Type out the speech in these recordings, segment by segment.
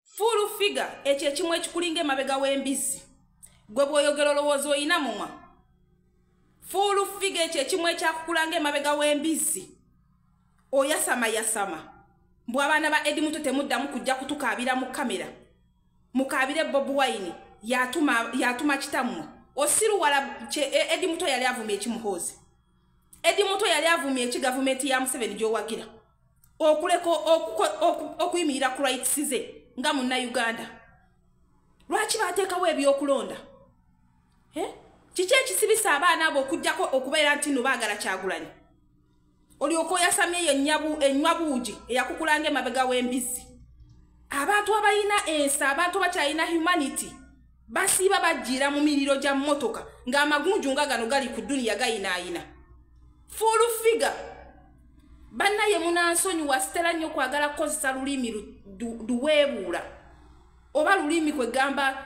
full figure ekyo ekimu ekikulinga emabega w'embizzi gwe bw'oyogera olowooza olina mumwa full figure ekyo ekimu ekyakukulanga emabega w'embizzi oyasama yasama mbu abaana ba edi muto temuddamu kujja kutukaabira mu kamera mukaabire bob wine yatuma, yatuma kitammwe osiruwala e, edi muto yali avuma ekimuhoozi edi muto yali avumye eki gavumenti ya museveni gyowagira okuleka okuyimirira ku rights ze nga munna uganda lwaki batekawo ebyokulonda eh? kiki ekisibisa abaana abo okujjako okubeera nti no baagala kyagulanyi olyoka oyasamye yo enywa buugi eyakukulanga emabega w'embizzi abantu abalina ensi abantu abakyalina humanity basiiba bajjiira mu miriro gya mmotoka ng'amagunju nga gano gali ku duniya gayinaayina fuulu figa bannaye munansonyiwa sitera nnyo kwagala kukozesa lulimi luweebuula oba lulimi kwe gamba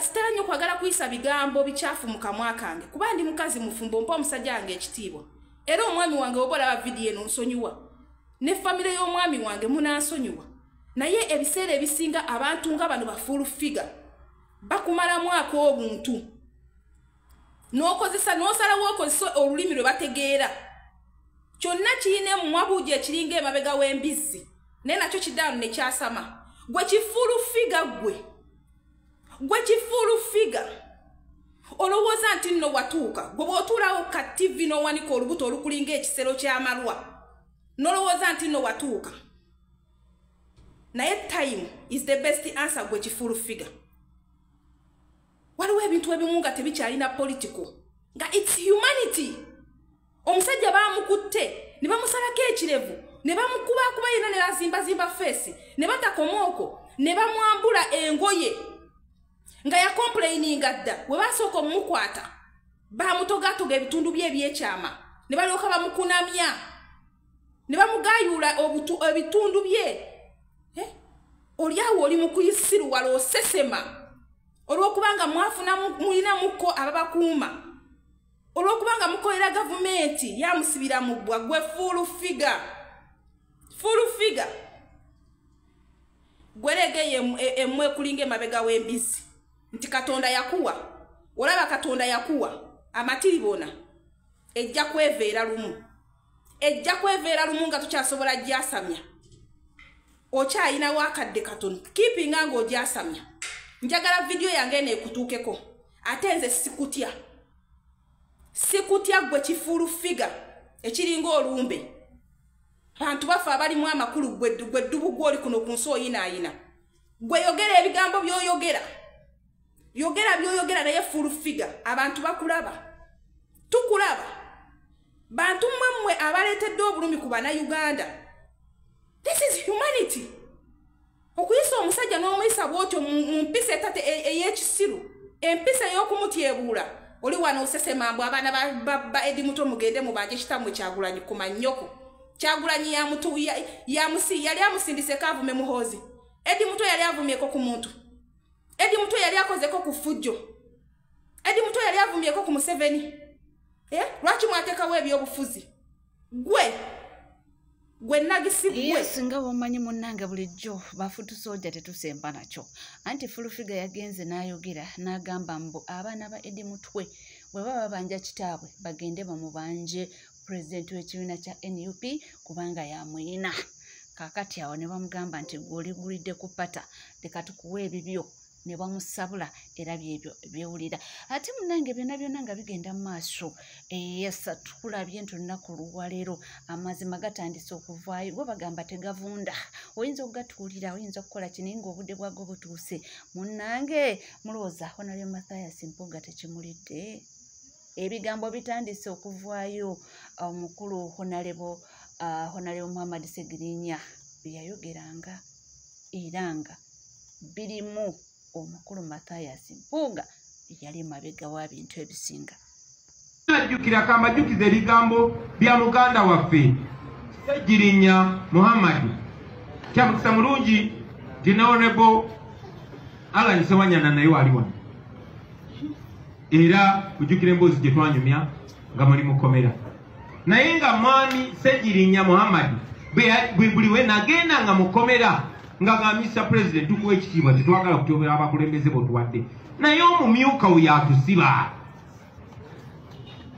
sitera nnyo kwagala kuyisa bigambo bikyafu mu kamwa kange kuba ndi mukazi mufumbo mpa omusajja wange ekitiibwa era omwami wange oba olaba vidiyo eno nsonyiwa ne famire y'omwami wange munansonyiwa naye ebiseera ebisinga abantu nga bano bafuulu figa bakumalamu ako obuntu n'okozesa n'osalawo okozesa olulimi lwe bategeera kyonna kirina emumwa buugi ekiringa emabega w'embizzi naye nakyo kidaano ne kyasama gwe kifuulu figa gwe gwe kifuulu figa olowooza nti nno watuuka gwe bw'otuulawo ka tivi n'owanika olubuto olukulinga ekisero ky'amalwa n'olowooza nti nno watuuka naye time is the best answer gwe kifuulu figure waliwo ebintu ebimu nga tebikyalina political nga its humanity omusajja bamukutte ne bamusalako ekirevu ne bamukubakuba yena ne bazimbazimba feesi ne batakomaoko ne bamwambula engoye nga yakompuleyininga dda we basooka omumukwata bamutogatoga ebitundu bye ebyekyama ne balyoka bamukunamya ne bamugayuula ebitundu bye eh? olyawo oli mukuyisiruwala osesema olwokubanga mwafuna mulinamuko ababakuuma olwokubanga mukolera gavumenti yamusibira mubbwa gwe fuulu figa fuulu figa gweregeyo emu e, ekulinga emabega w'embizi nti katonda yakuwa olaba katonda yakuwa amatiri bona ejja kweveera lumu ejja kweveera lumu nga tukyasobola gyasamya okyayinawo akadde katono kipinga nga ogyasamya njagala vidiyo yange eno ekutuukeko ate nze sikutya sikutya gwe kifuulu figa ekiringa olumbe bantu baffe abalimu amakulu gwe ddubu gwoli kuno ku nsi oyinaayina gwe yogera ebigambo byoyogera yogera byoyogera naye fuulu figa abantu bakulaba tukulaba bantu mmwe mmwe abaleetedde obulumi ku bannayuganda this is humanity okuyisa omusajja n'omuyisa bwotyo mu mpisa etate e, ey'ekisiru empisa ey'okumutyebuula oli wano osesema mbu abaana ba edi muto mugende mubanje kitammwe kyagulanyi ku mannyoko kyagulanyi yali amusindiseko avume muhoozi edi muto yali avumyeko ku muntu edi muto yali akozeko ku ffujjo edi muto yali avumyeko ku museveni eh, lwaki mwatekawo ebyobufuzi gwe gwe nagisi gwe singa womanyi munange bulijjo bafutu soja tetusemba nakyo anti fulufiga yagenze n'ayogera n'agamba mbu abaana ba edi mutwe bwe baba babanja kitaabwe bagende bamubanje pulezidenti w'ekibiina kya nup kubanga yamuyina kakati awo ne bamugamba nti gweoligulidde ku pata leka tukuwa ebibyo ne bamusabula era byebyo byewulira ate munange byona byona nga bigenda mu maaso eyesa eh, tukulabye nti olunaku luwalero amazima gatandise okuvaayo go bagamba tegavunda oyinza okugatuulira oyinza okukola kini nga obudde bwago butuuse munange mulowooza honalyo mathias mpuga tekimulidde ebigambo bitandise okuvaayo omukulu eh, honalebo ah, honalebo muhammad segirinya byeyayogeranga era nga birimu omukulu mathias mpuuga eyali emabega wa bintu ebisinga ajjukira kambajukiza ebigambo bya muganda waffe sejjirinya muhammadi kyamukisa mulungi dinaonebo alan sewanyana naye wali wano era kujjukira emboozi gye twanyumya nga muli mukomera naye nga mwami segirinya muhammadi buli we nagenda nga mukomera nga nga mr president tukuwa ekitiibwa tetwagala kutyobera abakulembeze botuwadde naye omumyuka we yatusiba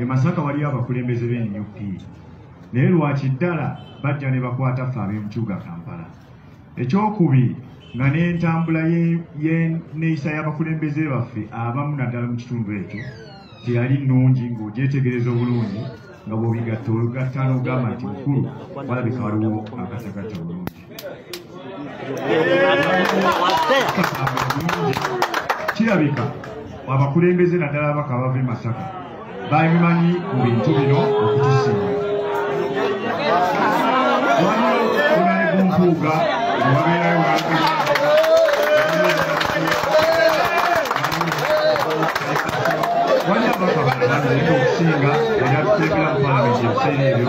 e masaka waliyo abakulembeze be nup naye lwaki ddala bajja ne bakwata ffe ab'emukibuga kampala ekyokubi nga n'entambula yeneyisa y'abakulembeze baffe abamu naddala mu kitundu ekyo teyali nungi ng'ogyetegereza obulungi nga bwobigatta olugatta n'ogamba nti mukulu walabika waliwo akasagatta bulungi kirabika abakulembeze naddala abaka abava e masaka babimanyi mu bintu bino okutusinga walioonaegumpuuga wabeerayo wali abaka baaokusinga era tuteekera mu palamenti ebiseera ebyo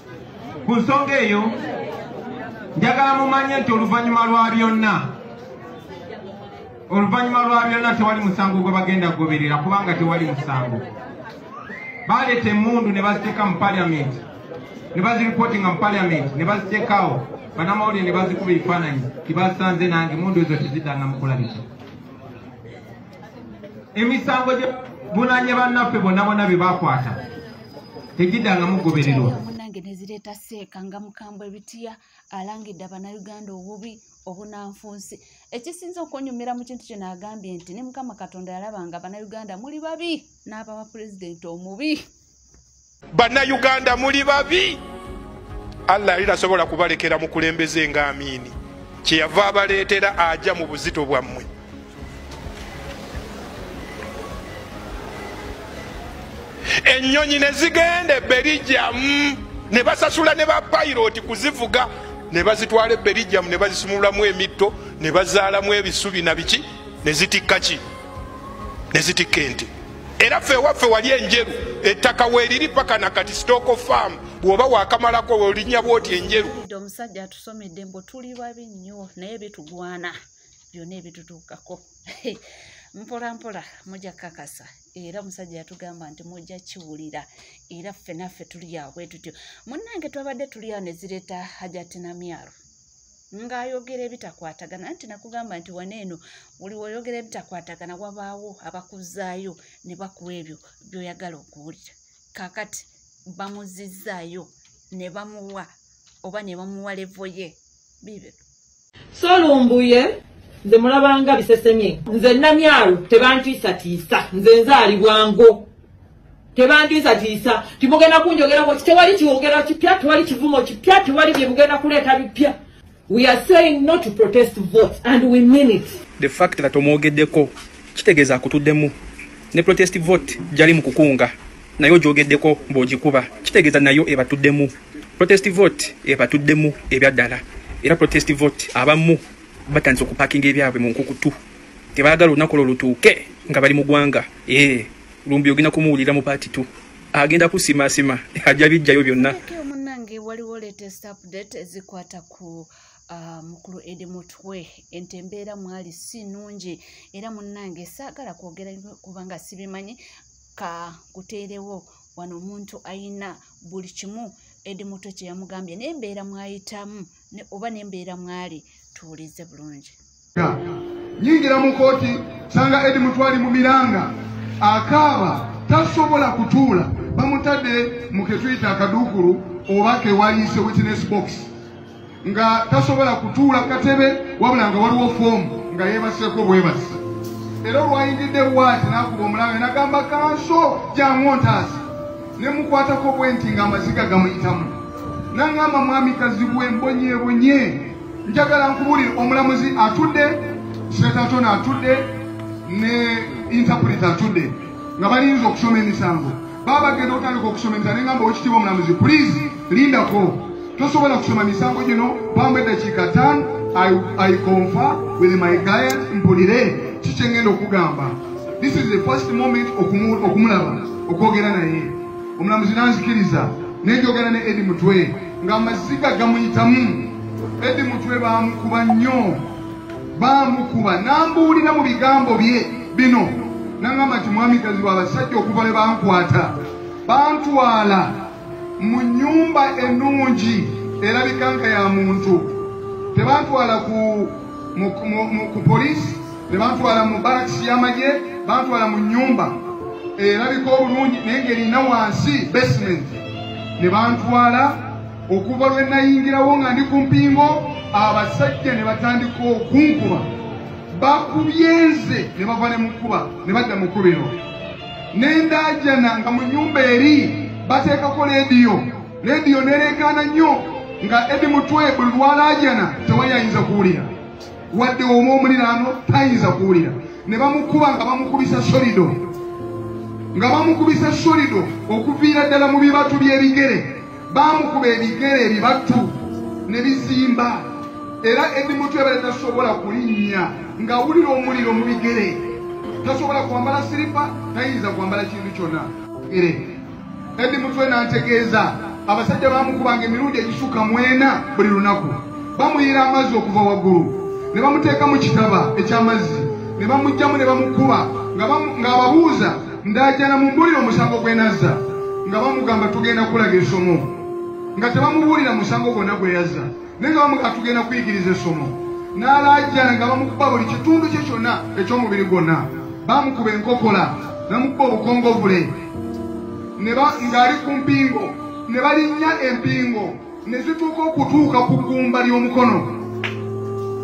ku nsonga eyo njagala mumanye nti oluvannyuma lwa byonna oluvannyuma lwa byonna tewali musango gwe bagenda kugoberera kubanga tewali musango baleeta emundu ne baziteeka mu paliamenti ne baziripootinga mu paliamenti ne baziteekaawo banamawulire ne bazikuba ebifaananyi tibasanze nange mundu ezo tezidanga mukulabisa emisango gye bunanye bannaffe bonna bonna bye bakwata tegidangamu gobererwa munange nezireeta seeka nga mukambwe ebitiya alangidde abanayuganda obubi obunanfunsi ekisinza okunyumira mu kintu kino agambye nti ne mukama katonda yalaba nga banayuganda muli babi n'abawa pulezidenti omubi banayuganda muli babi allah yali tasobola kubalekera mukulembeze nga amiini kyeyava abaleetera aja mu buzito bwammwe ennyonyi ne zigenda ebberijjamu ne basasula ne bapayiroti kuzivuga ne bazitwala ebberijjamu ne bazisumulamu emitto ne bazaalamu ebisubi na biki ne zitikka ki ne zitikka ente era ffe ewaffe wali enjeru ettaka weeriri paka na kati sitooko faamu bw'oba waakamalako olinya bwoti enjeru omusajja atusomedde mbu tuli babi nnyo naye bitugwana byonna ebitutuukako mpola mpola mujja kukakasa era omusajja yatugamba nti mujja kiwulira era ffe naffe tuli awo bwe tutyo munnange twabadde tuli awo ne zireeta hajatinamyaro ng'ayogera ebitakwatagana nti nakugamba nti wana eno buli woyogera ebitakwatagana wabaawo abakuzaayo ne bakuwa ebyo byoyagala okuwulira kakati bamuzizzaayo ne bamuwa oba ne bamuwa levo ye biibyo so lumbuye nze mulabanga bisesemye nze namyalo tebantiisatiisa nze nzaalibwango tebandiisatiisa timugenda kunjogerako tewali kiwogera kipya tewali kivumo kipya tewali byemugenda kuleeta bipya we are saying not to protest votes and we mean it the fact that omwogeddeko kitegeeza akutuddemu ne protest vote jali mu kukunga naye ojogeddeko mbu ogikuba kitegeeza nayo ebatuddemu protest vote ebatuddemu ebyaddala era protest vote abamu batandise okupakinga ebyabwe mu nkukutu tebaagala olunaku lwo lutuuke nga bali mu gwanga ee lumbi ogenda kumuwulira mu paati tu agenda kusimasima ajja bijjayo byonna munange waliwo latest update ezikwata ku Ah, mukulu edi mutwe ente embeera mwali si nungi era munnange saagala kwogera kubanga sibimanyi ka kuteerewo wano omuntu ayina buli kimu edi mutwe kye yamugambye nembeera mwayitamu oba nembeera mwali tuwulize bulungi nyingira mu kooti sanga edi mutwali mu miranga akaaba tasobola kutuula bamutadde mu ketuyita akaduukulu oba kewayise witness box nga tasobola kutuula katebe wabula nga waliwo foomu nga yeebaseeko bwebasi era olwayingidde waati n'akuba omulabe nagamba kanso jangu ontaasi ne mukwatako bwe nti ng'amaziga gamuyitamu nangamba mwami kazibwe mbonyebonye njagala nkubuulire omulamuzi atudde setatona atudde ne intapulita atudde nga balinza okusoma emisango Baba genda otandika okusoma emisango ne ngamba owekitiibwa omulamuzi please lindako tosobola kusoma misango gino bamba eddakiika ttaano i confa with my guide mpulire kikyengenda okugamba this is the first moment okumulaba okwogera naye omulamuzi nanzikiriza nenjogera ne edi mutwe nga amaziga gamuyitamu edi mutwe bamukuba nnyo baamukuba n'ambuulira mu bigambo bye bino nangamba nti mwami kazibu abasajja okuva lwe bankwata bantwala mu nnyumba ennungi erabika nga ya muntu tebantwala ku ku poliisi tebantwala mu barakisi y'amagye bantwala mu nnyumba erabika obulungi naye ng'erina wansi basement ne bantwala okuva lwe nayingirawo nga ndi ku mpingo abasajja ne batandika okunkuba bakubye nze ne bava ne mukuba ne badda mu kubiro nendaajana nga mu nyumba eri bateekako leediyo leediyo nereekaana nnyo nga edi mutwe buli lwalaajana tewali ayinza kuwulira wadde omu omuliraano tayinza kuwulira ne bamukuba nga bamukubisa solido nga bamukubisa solido okuviira ddala mu bibatu by'ebigere baamukuba ebigere ebibatu ne bizimba era edi mutu yabadde tasobola kulinnya ng'awulira omuliro mu bigere tasobola kwambala siripa tayinza kwambala kintu kyonna ere edi mutwe n'antegeeza abasajja baamukubanga emirundi egisuka mwena buli lunaku bamuyiira amazzi okuva waggulu ne bamuteeka mu kitaba eky'amazzi ne bamugjamu ne bamukuba ng'ababuuza Ndajana mumbulire omusango gwe nazza nga bamugamba tugenda kulaga essomo nga tebamubuulira musango gwonna gwe yazza naye nga bamugamba tugenda kuyigiriza essomo n'alaajana nga bamukuba buli kitundu kye kyonna eky'omubiri gwonna bamukuba enkokola namukuba obukongovule ng'ali ku mpingo ne balinnya empingo ne zituuka okutuuka ku ggumba ly'omukono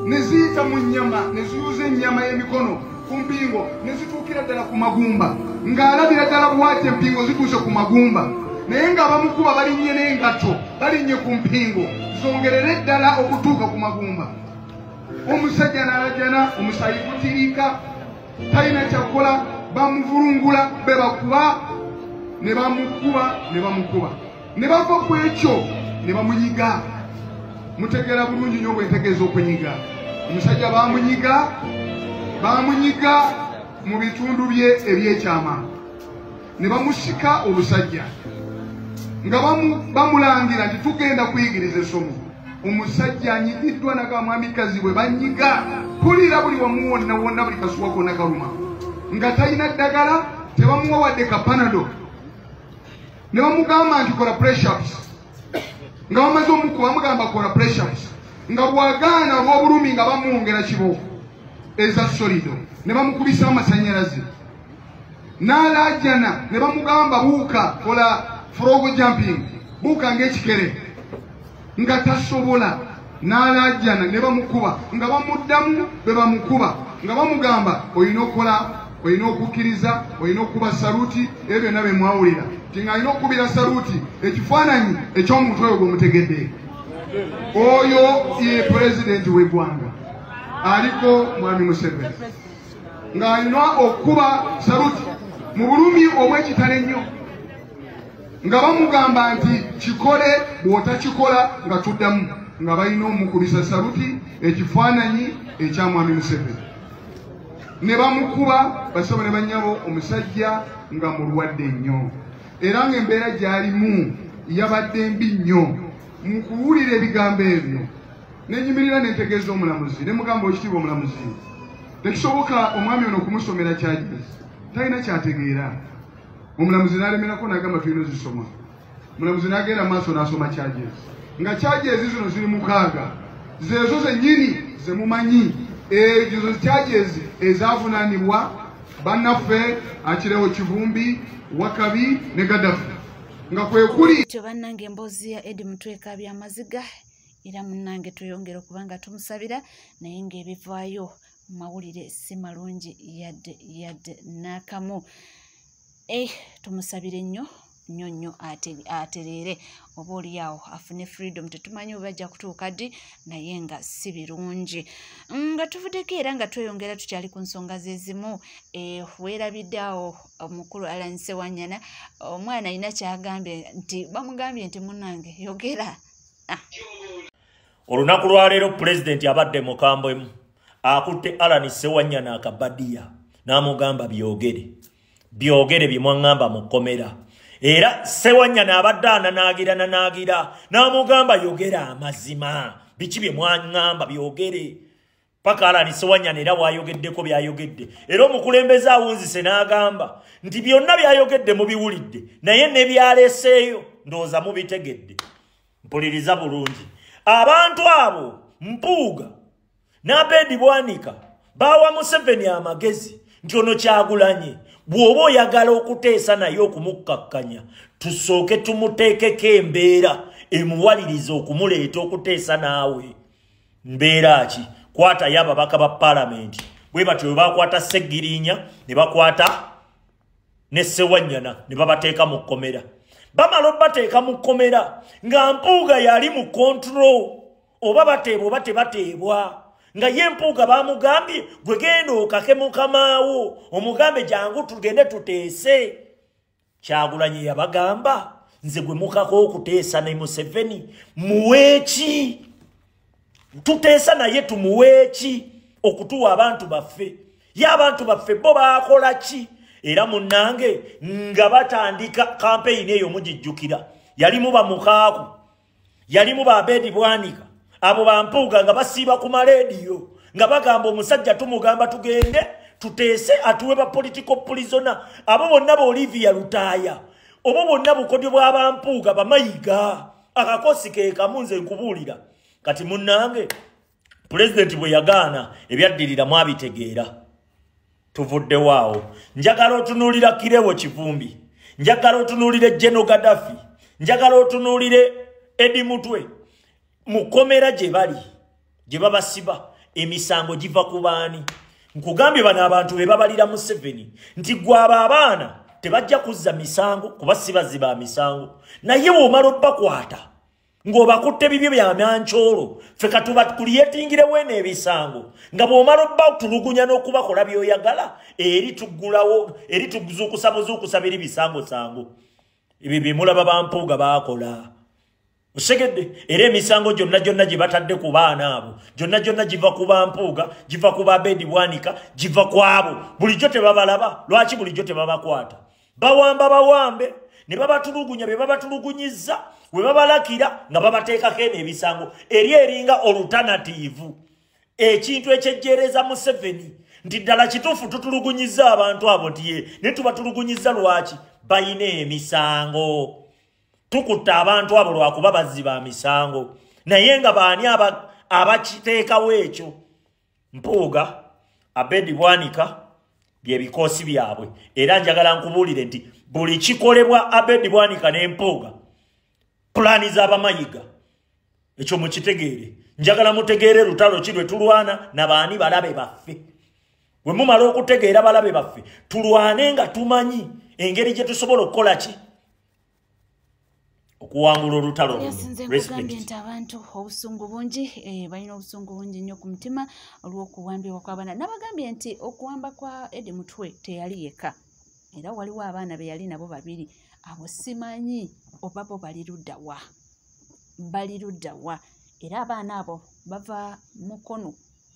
ne ziyita mu nnyama ne ziyuza ennyama y'emikono ku mpingo ne zituukira ddala ku magumba ng'alabira ddala bwati empingo zituuse ku magumba naye ng'abamukuba balinnye n'engatto balinnye ku mpingo zongerere ddala okutuuka ku magumba omusajja n'alajana omusayi gutiriika talina kyakukola bamuvulungula be bakuba ne bamukuba ne bamukuba ne bava ku ekyo ne bamunyiga mutegeera bulungi nyo bwentegeeza okunyiga omusajja bamunyiga bamunyiga mu bitundu bye ebyekyama ne bamusika omusajja nga bamulangira nti tugenda kuyigiriza esomo omusajja anyigiddwa nakamwami kazi bwe banyiga kulira buli wamu wonna wonna buli kasuwa kona kaluma nga talina ddagala tebamuwa wadde kapanado ne bamugamba nti kola pressups nga bamaze omukuba bamugamba kola pressups nga bwagaana olw'obulumi nga bamwongera kibo eza solido ne bamukubisa amasanyalaze n'alaajana ne bamugamba buuka kola frogo jumping buuka ng'ekikere nga tasobola n'alaajana ne bamukuba nga bamuddamu bwe bamukuba nga bamugamba olina okukola olina okukkiriza olina okukuba saluti ebyo byonna bye mwawulira ti nga alina okukubira saluti ekifaananyi eky'omuntu oyo gwemutegedde oyo ye pulezidenti w'eggwanga aliko mwami museveni ng'alina okukuba saluti mu bulumi obw'ekitalo ennyo nga bamugamba nti kikole bw'otakikola nga tuddamu nga balina omukubisa saluti ekifaananyi ekya mwami museveni ne bamukuba basaba ne bannyabo omusajja nga mulwadde nnyo era ng'embeera gy'alimu yabadde mbi nnyo mu kuwulira ebigambo ebyo nenyimirira nentegeeza omulamuzi nemugamba okitiibwa omulamuzi tekisoboka omwami ono okumusomera kyajezi talina kyategeera omulamuzi n'alemerako n'agamba tulina zisoma omulamuzi n'agenda maaso n'asoma charges nga charges zino ziri mukaaga zeezo zennyini ze mumanyi ezo charges ezavunaanibwa bannaffe akirewo kivumbi wakabi ne gadafi nga kwe kuli tyo bannange emboozi ya edi mutweka byamaziga era munnange tweyongere okubanga tumusabira naye ng'ebivaayo mawulire si malungi yadde yadde n'akamu eh, tumusabire nnyo nnyo nnyo atereere oba oliawo afune freedom tetumanyi oba ajja kutuuka ddi naye nga si birungi mm, nga tuvuddeko era nga tweyongera tukyali ku nsonga zezimu eh, weerabidde awo omukulu alan sewanyana omwana alina kyagambye nti bamugambye nti munange yogera ah. olunaku lwaleero pulezidenti abadde mukambwemu akutte alani sewanya naakabadiya n'amugamba byogere byogere bye mwaŋŋamba mu kkomera era sewanya naabadde ananaagira nanaagira n'amugamba yogera amazima biki bye mwaŋŋamba byogere paka alani sewanyana era bwayogeddeko byayogedde era omukulembeze awunzise n'agamba nti byonna byayogedde mubiwulidde naye nebyaleseeyo ndowooza mubitegedde mpuliriza bulungi abantu abo mpuuga n'abeedi bwanika baawa museveni amagezi nti ono kyagulanye bw'oba oyagala okuteesa naye okumukkakkanya tusooke tumuteekeko embeera emuwaliriza okumuleeta okuteesa naawe mbeera ki kwatayo ababaka ba palamenti bwe batyo bwe bakwata ssegiriinya ne bakwata ne ssewanyana ne babateeka mu kkomera bamala obateeka mu kkomera nga mpuuga yali mu kontro oba bateebwa oba tebateebwa nga ye mpuuga bamugambye gwe genda okake mukamaawo omugambe jangu tugende tuteese kyagulanyi yabagamba nze gwe mukako okuteesa ne museveni muweeki tuteesa naye tumuweeki okutuwa abantu baffe ye abantu baffe bo bakola ki era munnange nga batandika kampeyini eyo mugijjukira yalimu bamukaaku yalimu ba bedi bwanika abo bampuuga nga basiiba ku maleediyo nga bagamba omusajja tumugamba tugende tuteese atuwe ba political prisona abo bonna ba olivia lutaaya obo bonna bukodyo bwa bampuuga bamayiga akakosi kekamu nze nkubuulira kati munnange pulezidenti bwe yagaana ebyaddirira mwabitegeera tuvuddewo awo njagala otunuulira kirewo kivumbi njagala otunuulire geno gadafi njagala otunuulire edi mutwe mu kkomera gye bali gye babasiba emisango giva ku baani nkugambye bano abantu be babalira museveni nti gwaba abaana tebajja kuzza misango kuba sibazi ba misango naye womala obbakwata ng'obakutte bibyo bya myankyolo ffe katuba tukuliyetingirewo eno ebisango nga bw'omala obba otulugunya n'okubakola by'oyagala eri tuggulawo eri tuzuukusa buzuukusa biri bisangosango ebyo bye mulaba bampuuga baakola osegedde era emisango gyonna gyonna gye batadde ku baana abo gyonna gyonna giva ku bampuuga giva ku babeedi bwanika giva ku abo bulijjo tebabalaba lwaki bulijjo tebabakwata bawamba bawambe ne babatulugunya be babatulugunyizza we babalakira nga babateekako eno ebisango eri eringa olutanatiivu ekintu ekyejjeereza museveni nti ddala kituufu tutulugunyizza abantu abo nti ye naye tubatulugunyizza lwaki balina emisango tukutte abantu abo lwakuba bazzi ba misango naye nga baani abakiteekawo ekyo mpuuga abedi bwanika byebikoosi byabwe era njagala nkubuulire nti buli kikolebwa abedi bwanika n'empuuga pulaani z'abamayiga ekyo mukitegeere njagala mutegeere lutalo ki lwe tulwana na baani balabe baffe bwe mumala okutegeera balabe baffe tulwane nga tumanyi engeri gye tusobola okukola ki okuwangula olutalo lunoyasinzekugambye nti abantu obusungu bungi eh, balina obusungu bungi nnyo ku mutima olw'okuwambibwa kw'abaana nabagambye nti okuwamba kwa edi mutwe teyali yeka era waliwo abaana be yali nabo babiri abo simanyi oba bo bali ludda wa bali ludda wa era abaana abo bava mukono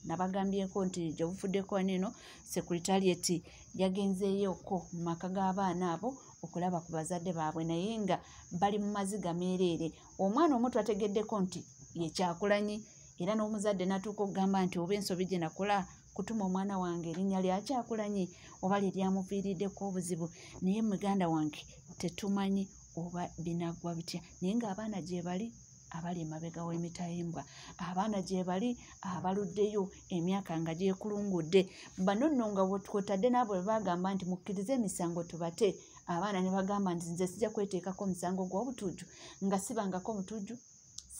nabagambyeko nti gyebufudde kwan eno securitarieti yagenzeeyoko mu maka g'abaana abo okulaba ku bazadde baabwe naye nga bali mu maziga meereere omwana omu twategeddeko nti yekyakulanyi era n'omuzadde natuuka okugamba nti oba ensobi gye nakola kutuma omwana wange erinnya lyakyakulanyi oba lye lyamuviiriddeko obuzibu naye muganda wange tetumanyi oba binaggwa bitya naye ng'abaana gyebali abali emabega w'emitayimbwa abaana gyebali abaluddeyo emyaka nga gyekulungudde bano nno nga kwotadde naabo bwe bagamba nti mukkirize emisango tubate abaana ne bagamba nti nze sijja kweteekako omusango gw'obutujju nga sibangako mutujju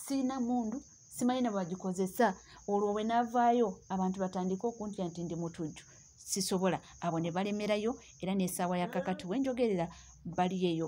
siina mundu simanyi ne bagikozesa olwo bwe navaayo abantu batandike okuntya nti ndi mutujju sisobola abo ne balemerayo era n'esaawa ya kakati wenjogerera bali eyo